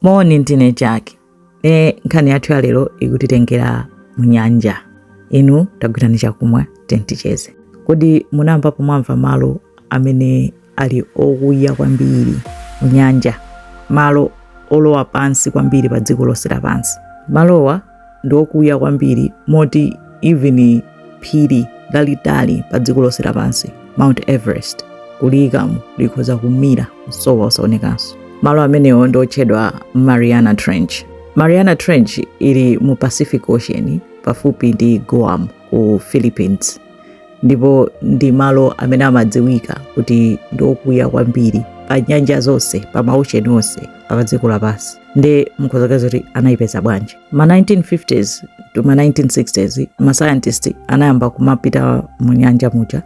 moni ndine jack nde nkhani yathu ya lero ikutitengera mu nyanja inu tagwirani chakumwa tenticheze kodi munamvapo mwamva malo amene ali okuya kwambiri mu nyanja malo olowa pansi kwambiri pa dziko lonse lapansi malowa ndi okuya kwambiri moti even phiri lalitali pa dziko lonse lapansi mount everest kuliyikamo likhoza kumira kusowa osaonekanso malo amenewo ndi otchedwa mariana trench mariana trench ili mu pacific ocean pafupi ndi guam ku philippines ndipo ndi malo amene amadziwika kuti ndi okuya kwambiri pa nyanja zonse pa ma ocean onse apa dziko lapansi nde mukhoza kuziwa kuti anayipeza bwanji ma 1950s to ma 1960s ma scientist anayamba kumapita mu nyanja muja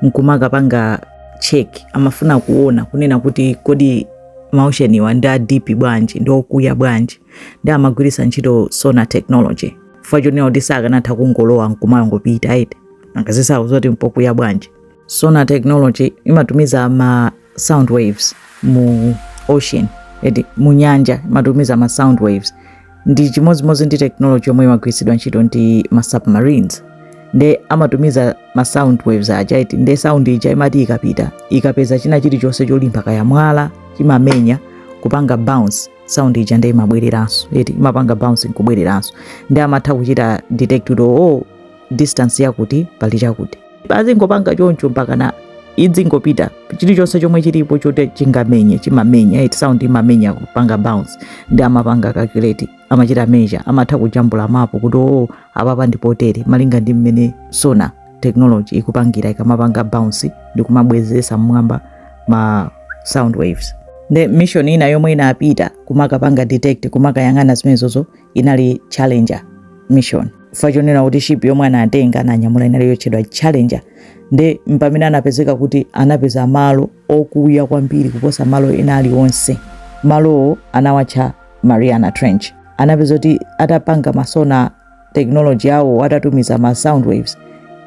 nkumakapanga check amafuna kuona kunena kuti kodi ma ocean wa ndi a deep bwanji ndi okuya bwanji nde amagwiritsa ntchito sonar technology chifukwa chonena kuti sakanatha kungolowa nkumangopita eti angaziwe zoti mpokuya bwanji sonar technology imatumiza ma sound waves mu ocean eti mu nyanja imatumiza ma sound waves ndi chimodzimodzi ndi technology yomwe imagwiritsidwa ntchito ndi ma submarines nde amatumiza ma sound waves aja eti nde sound ija imati ikapita ikapeza china chilichonse cholimba kaya mwala chimamenya kupanga bounce sound ija nde imabwereranso eti imapanga bounce nkubwereranso nde amatha kuchita detect kuti oh distance yakuti pali chakuti azingopanga choncho mpakana idzingopita chilichonse chomwe chilipo chote chingamenye chimamenya eti sound imamenya kupanga bounce nde amapanga calculate amachita measure amatha kujambula mapu kuti oh apapa ndipotere malinga ndi mmene sonar technology ikupangira ikamapanga bounce ndi kumabwezesa mmwamba ma sound waves nde mission ina yomwe inapita kumakapanga detect kumakayang'ana zimenezozo inali challenger mission chifukwa chonena kuti ship yomwe anatenga ananyamula inali yotchedwa challenger nde pamene anapezeka kuti anapeza malo okuya kwambiri kuposa malo ena alionse malowo anawatcha mariana trench anapeza kuti atapanga ma sonar technology yawo atatumiza ma sound waves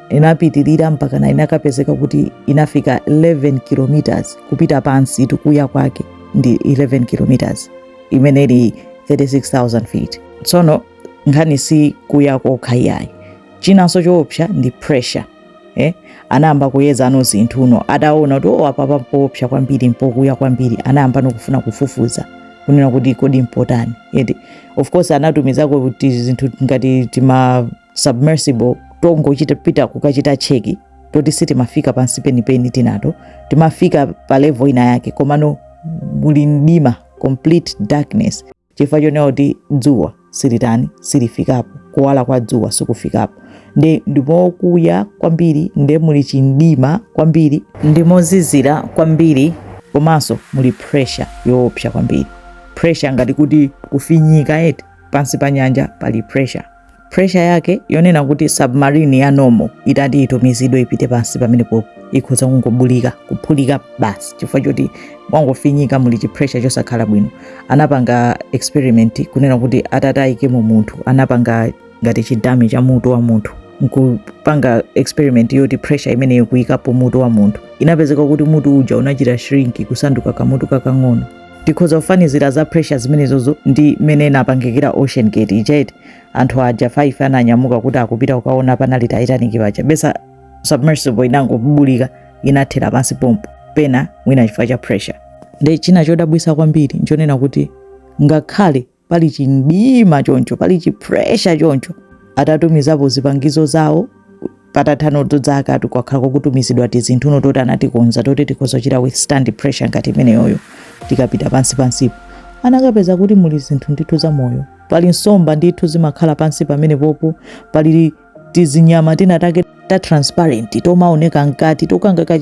inapitirira mpakana inakapezeka kuti inafika 11 kilometers kupita pansi ndi kuya kwake ndi 11 kilometers imene ili 36000 feet tsono nkhani si kuya kokha iyayi chinanso choopsa ndi pressure eh? anayamba kuyeza ano zinthu uno ataona kuti o oh, apa mpoopsa kwambiri mpokuya kwambiri anayamba nokufuna kufufuza kunena kuti kodi mpotani eti of course anatumizako kuti zinthu ngati tima submersible tongochita pita kukachita cheki toti sitimafika pansi penipeni tinato timafika pa level ina yake komano muli mdima complete darkness chifukwa chonena kuti dzuwa silitani silifikapo kuwala kwa dzuwa sikufikapo nde ndimokuya kwambiri nde muli chimdima kwambiri ndimozizira kwambiri komanso muli pressure yoopsa kwambiri pressure ngati kuti kufinyika eti pansi pa nyanja pali pressure pressure yake yonena kuti submarine ya normal itati itumizidwe ipite pansi pamenepo ikhoza kungobulika kuphulika basi chifukwa choti mwangofinyika muli chipressure chosakhala bwino anapanga experiment kunena kuti atataikemo munthu anapanga ngati chidummy cha mutu wa munthu nkupanga experiment yoti pressure imeneyo kuyikapo mutu wa munthu inapezeka kuti mutu uja unachita shrink kusanduka kamutu kakang'ono tikhoza kufanizira za pressure zimenezozo ndi mene inapangikira ocean gate ija eti anthu aja 5 ananyamuka kuti akupita kukaona panali titanic paja besa submersible inangobulika inathera pansi pompo pena mwina chifukwa cha pressure nde china chodabwisa kwambiri nchonena kuti ngakhale pali chimdima choncho pali chipressure choncho atatumizapo zipangizo zawo patathano zaka kwakhala kukutumizidwa tizinthu uno toti anatikonza toti tikhoza kuchita withstand pressure ngati imeneyoyo tikapita pansi pansipo anakapeza kuti muli zinthu ndithu za moyo pali nsomba ndithu zimakhala pansi pamene popo pali tizinyama tinatake ta transparent tomaoneka mkati tonkhanga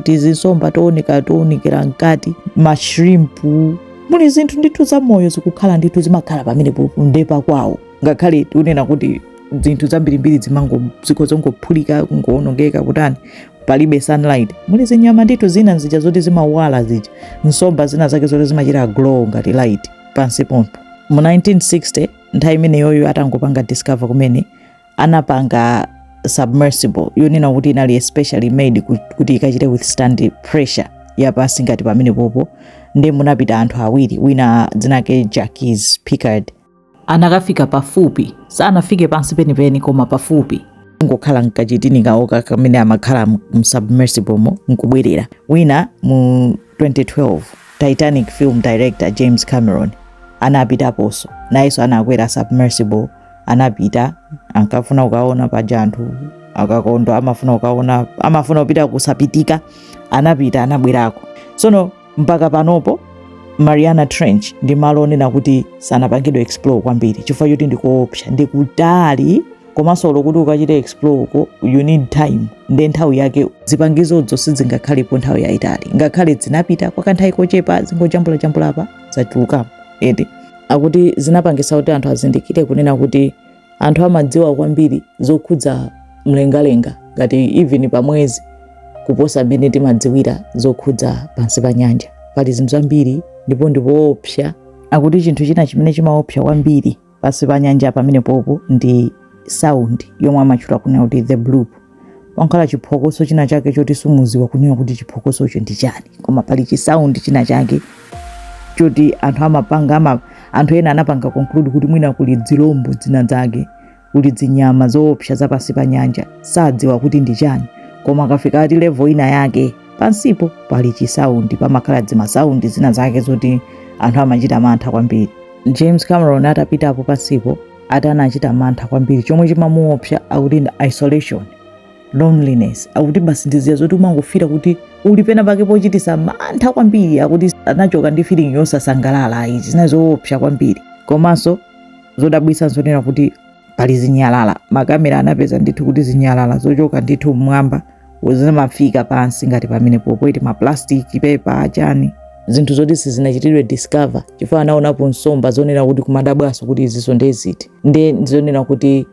tizinsomba tooneka toonekera mkati mashrimpu muli zinthu ndithu za moyo zikukhala ndithu zimakhala pamene ndepa kwawo ngakhale tikunena kuti zinthu zambirimbiri zikhoza kungophulika kungoonongeka kutani palibe sunlight muli zinyama ndithu zina zija zoti zimawala zija nsomba zina zake zoti zimachita glow ngati light pansi pompo mu 1960 nthawi imeneyoyo atangopanga discover kumene anapanga submersible yonena kuti inali especially made kuti ikachite withstand pressure yapansi ngati pamene popo nde munapita anthu awiri wina dzina lake Jacques Piccard anakafika pafupi sanafike pansi penipeni koma pafupi ngokhala mkachitini kawoka kamene amakhala msubmersiblemo nkubwerera wina mu 2012 titanic film director james cameron anapitaponso nayenso anakwera submersible anapita ankafuna kukaona paja anthu akakondwa amafuna kukaona amafuna kupita kusapitika anapita anabwerako tsono mpaka panopo mariana trench ndi malo onena kuti sanapangidwe explore kwambiri chifukwa choti ndikoopsa ndikutali komanso olo kuti ukachite explore uko you need time nde nthawi yake zipangizozo sizingakhalepo nthawi yayitali ngakhale zinapita kwa kanthawi kochepa zingojambulajambula apa zachulukapo eti akuti zinapangisa kuti anthu azindikire kunena kuti anthu amadziwa kwambiri zokhudza mlengalenga ngati even pa mwezi kuposa mmene timadziwira zokhudza pansi pa nyanja pali zinthu zambiri ndipo ndipoopsa akuti chinthu china chimene chimaopsa kwambiri pansi pa nyanja pamenepopo ndi sound yomwe amatchula kunena kuti the bloop pankhala chiphokoso china chake choti sumuziwa kunena kuti chiphokosocho ndi chani koma pali chisaundi china chake choti anthu amapanga ama, anthu ena anapanga conclude kuti mwina kuli zilombo zina zake kuli zinyama zoopsa za pansi pa nyanja sadziwa kuti ndi chani koma akafika ati level ina yake pansipo pali chisaundi pamakhala zimasaundi zina zake zoti anthu amachita mantha kwambiri james cameron atapitapo pansipo ati anachita mantha kwambiri chomwe chimamuopsa akuti ndi isolation loneliness akuti basi ndiziya zoti umangofila kuti uli pena pake pochitisa mantha kwambiri akuti anachoka ndi feeling yosasangalala ayi zinali zoopsa kwambiri komanso zodabwitsa nzonena kuti pali zinyalala makamera anapeza ndithu kuti zinyalala zochoka ndithu mmwamba zimafika pansi ngati pamene popo eti maplastic paper achani zinthu zoti sizinachitidwe discover chifukwa anaonapo nsomba zonena kuti kumadabwaso kuti iziso ndeziti nde zonena kuti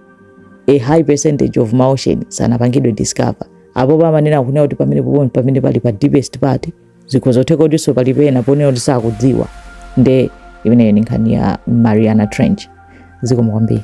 a high percentage of maocean sanapangidwe discover apopo amanena kunena kuti pamene popo pamene pali pa deepest part zikhoza kutheka kutinso pali pena ponena kuti sakudziwa nde imeneyo ndi nkhani ya mariana trench zikomo kwambiri